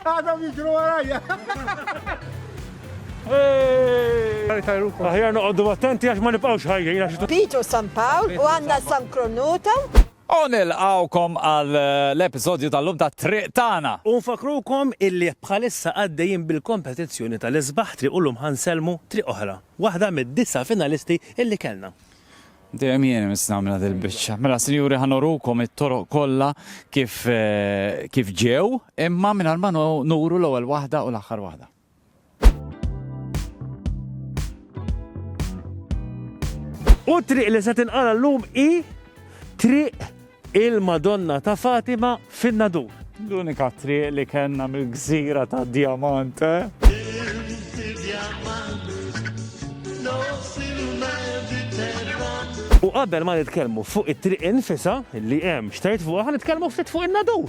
Għadhom jiġru warajja. Aħjar noqoddu attenti għax ma nibqgħux ħajjin għax. Pitu San Pawl u għandna San Kronuta. Onil għawkom għal eh, l-episodju tal-lum ta' triq tana. Unfakrukom illi bħalissa għaddejjin bil-kompetizzjoni tal-isbaħ triq u l-lum ħanselmu triq oħra. Waħda mid-disa finalisti illi kellna. Dejjem jien mis nagħmilha dil-biċċa. Mela sinjuri ħanorukom it-toroq kollha kif eh, kif ġew, imma mingħajr ma nuru l-ewwel waħda u l-aħħar waħda. U triq li se tinqala llum i triq Il-Madonna ta' Fatima fin-Nadur. L-unika triq li kellna mill-gżira ta' Djamant, eh? U qabel ma nitkellmu fuq it-triq infisha li hemm x'tgħid fuqha, ħa nitkellmu ftit fuq in-Nadur.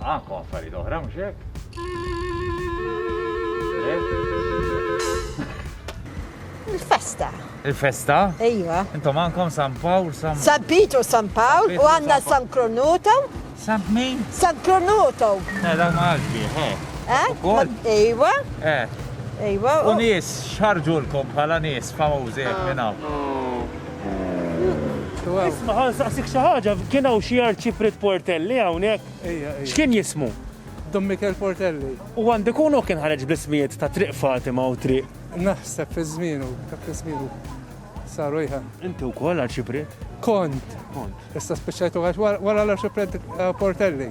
Anke affarijiet oħra mhux hekk? Il-festa. Il-festa? Ejwa. Intom għandkom San Pawl, San San Pitu, San Pawl u għandna San Kronuto. San min? San Kronuto. Eh, dan ma għaxbi, eh. Eh? Ejwa. Eh. Ejwa. U nies xarġulkom bħala nies famużi minn hawn. Isma' ħa nsaqsik xi ħaġa, kien hawn xi Arċipriet Portelli hawnhekk? Ejja, ejja. X'kien jismu? Dom Mikel Portelli. U għandu jkun hu kien ħareġ bl-ismijiet ta' Triq Fatima u Triq. Naħseb fi żmienu, dak fi żmienu. Saru ejja. Inti wkoll Arċipriet? Kont. Kont. Issa spiċċajtu għax wara l-Arċipriet Portelli.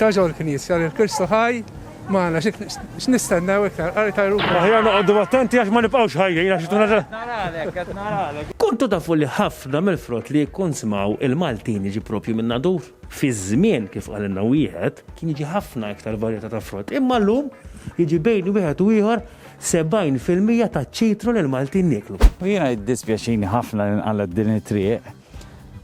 Ta' ġol knisja lil Kristu ħaj magħna x'nistennew iktar qari ta' jrub. Aħjar noqogħdu attenti għax ma nibqgħux ħajjin għax ituna. Qed naralek, qed naralek. Kontu tafu li ħafna mill-frott li jikkunsmaw il-Maltin jiġi proprju minn Nadur? Fi żmien, kif qalilna wieħed, kien jiġi ħafna iktar varjetà ta' frott, imma llum jiġi bejn wieħed u ieħor 70 fil-mija taċ-ċitru li l-Maltin nieklu. U jiena jiddispjaċini ħafna li nqalgħet din it-triq.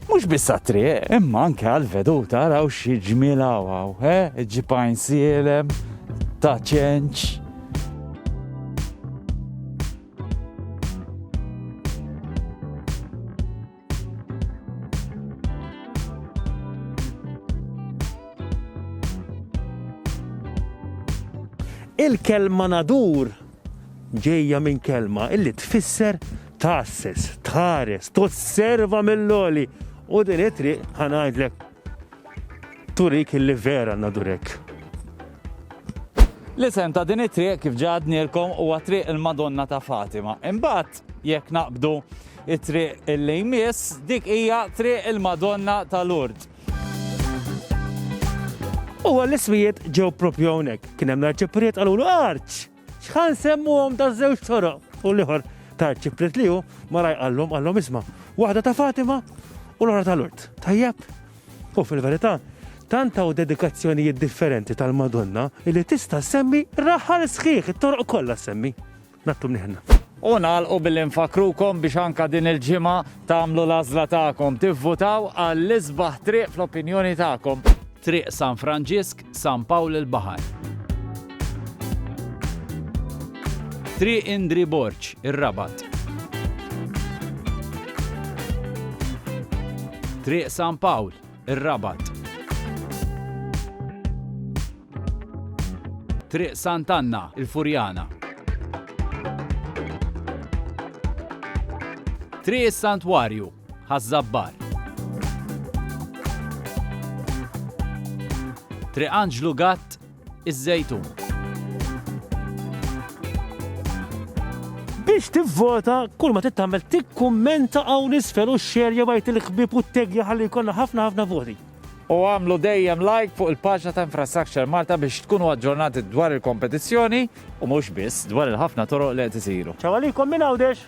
Mhux biss għat-triq, imma anke għall-veduta raw xi ġmiel hawn, eh? Ġipajn sielem, ta' ċenċ. Il-kelma nadur Ġejja minn kelma li tfisser tgħasses, tħares, tosserva mill-għoli u din it-triq ħa ngħidlek turik li vera għandna ndur hekk. L-isem ta' din it-triq kif ġa għadnielkom huwa Triq il-Madonna ta' Fatima. Imbagħad jekk naqbdu it-triq il-lejmiss dik hija Triq il-Madonna ta' Lourdes. U għall-iswijiet ġew propju hawnhekk. Kien hemm l-arċipriet qalulu arċ! X'ħan semmuhom ta' żewġ toroq u l-ieħor ta' arċipriet li hu mara jqallhom qallhom isma' waħda ta' Fatima u l-oħra tal-Urt. Tajjeb? U fil-verità, tant hawn dedikazzjonijiet differenti tal-Madonna li tista' semmi raħal sħiħ it-toroq kollha semmi. Nattu mniħna. U nagħlqu billi nfakkrukom biex anka din il-ġimgħa tagħmlu l-għażla tagħkom, tivvutaw għall-isbaħ triq fl-opinjoni tagħkom. Triq San Franġisk, San Pawl il-Baħar. Triq Indri Borġ, ir-Rabat. Triq San Pawl, Ir-Rabat. Triq Sant'Anna, il-Furjana. Triq is-Santwarju, Ħaż-Żabbar. Triq Anġlu Gatt, iż-żejtun. Biex tivvota, kull ma tittamel tikkummenta hawn isfel u xxer jew għajt il-ħbib u t-tegja ħalli jkollna ħafna ħafna voti. U għamlu dejjem like fuq il-paġna ta' Infrastructure Malta biex tkunu aġġornati dwar il-kompetizzjoni u mhux biss dwar il-ħafna toroq li qed isiru. Ċaw għalikom minn Għawdex!